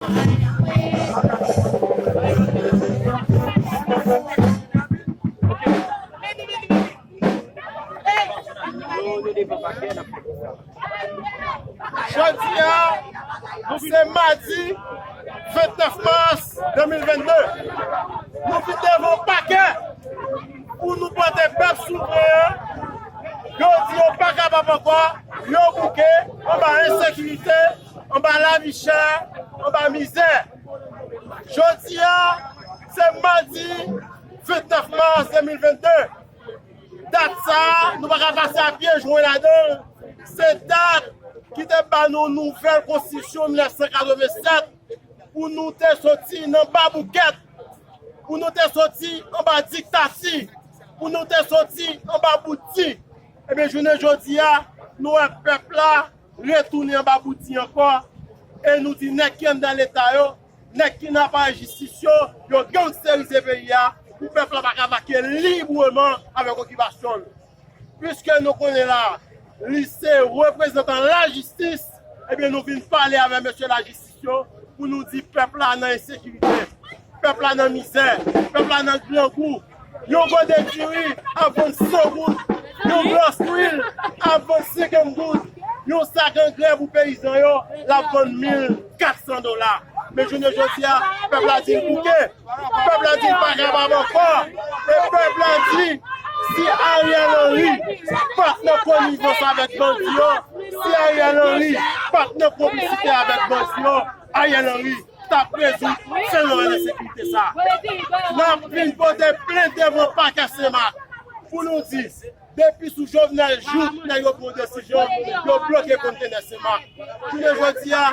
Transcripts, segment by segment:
Jodia nou se madi 29 mas 2022 nou vin devan pakè pou nou pote pèp souvren an, yo di yo pa kapab ankò, yo bouke anba ensekirite. Anba lavi chè, anba mizè. Jodi a, se madi 29 mas 2022. Dat sa a, nou pa ka pase a pye jwe ladan l. Se dat ki te ban nou nouvèl konstitisyon 1987 pou nou te soti nan baboukèt, pou nou te soti anba diktati, pou nou te soti anba bout di. Ebyen, jounen jodi a, nou wè pèp la retounen anba bouti ankò e nou di nèg ki anndan leta yo, nèg ki nan aparèy jistis yo, yo gangsterize peyi a pou pèp la pa ka vake libreman avèk okipasyon l. Piske nou konnen la li se reprezantan lajistis, ebyen nou vin pale avè mesye lajistis. eleksyon pou nou di pèp la nan ensekirite, pèp la nan mizè, pèp la nan grangou, yon gòdè diri ap vann 100 goud, yon glas lwil ap vann 50 goud, yon sak angrè pou peyizan yo l ap vann 1400 dola. Men jounen jodi a, pèp la di l bouke. Pèp la di pa kapab ankò e pèp la di si Ariel Henry pat nan konivans avèk bandi yo, si Ariel Henry pat nan konplisite avèk bandi yo, Ariel Henry tap rezoud fenomèn ensekirite sa. Nap vin pote plent devan pakè Senmak pou nou di Depi sou Jovenel jouk nan yon bon desizyon yo bloke kontenè seman. Jounen jodi a,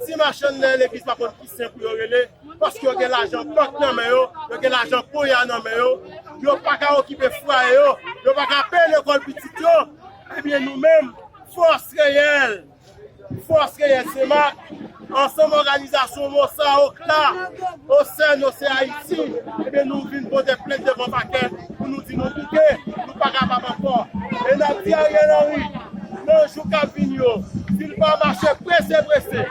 ti machann nan legliz pa konn ki sen pou yo rele paske yo gen lajan bank nan men yo, yo gen lajan ponya nan men yo, yo pa ka okipe fwaye yo, yo pa ka peye lekòl pitit yo. Ebyen nou menm, fòs reyèl! Fòs Reyèl Senmak, ansanm òganizasyon mò sa yo k la o sèn o se Ayiti, ebyen nou vin pote plent devan pakè pou nou di nou bouke, nou pa kapab ankò. E n ap di Ariel Henry, nan jou k ap vini yo, si l pa mache prese prese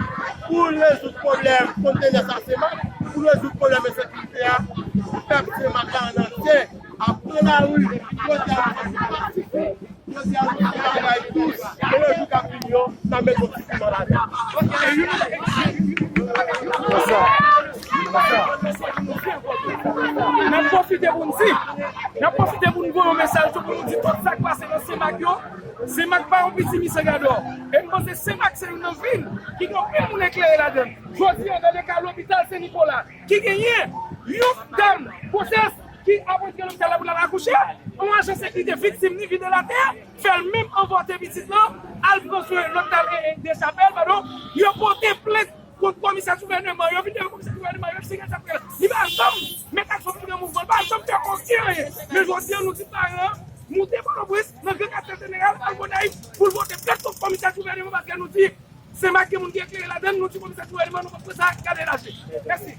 pou l rezoud pwoblèm kontenè sa Senmak, pou l rezoud pwoblèm ensekirite a, pèp Senmak la ann antye ap pran lari pou pote avanse pasifik. Jodi a tout moun bay plis, men nan jou kap vini yo, nan met yon ti piman ladann. Nap pwofite pou n di, nap pwofite pou n voye yon mesaj tou pou nou di tout sak pase nan Senmak yo, Senmak pa yon piti Misagadò. E m panse Senmak se youn nan vil ki gen anpil moun eklere ladann. Jodi a gade ka lopital Sen Nikola ki genyen yon dam gwosès Ki apotre lopital la pou lal akouche, on ajan sekirite viktim ni videl atè, fèl menm anvòte pitit lan, al pran swen lòt tal dechapel pardon, yo pote plent kont komisè gouvèneman, yo vin devan komisè gouvèneman, yo eksplike sak fèt, li pa janm met aksyon sou gran mouvman, li pa janm fè oken anyen, men jodi an nou di paran an moute pòtoprens nan gran katye jeneral al gonayiv poul pote plent kont komisè gouvèneman paske nou di senmak gen moun ki eklere ladann, nou di komisè gouvèneman nou pap pran sa gade laje. Mèsi.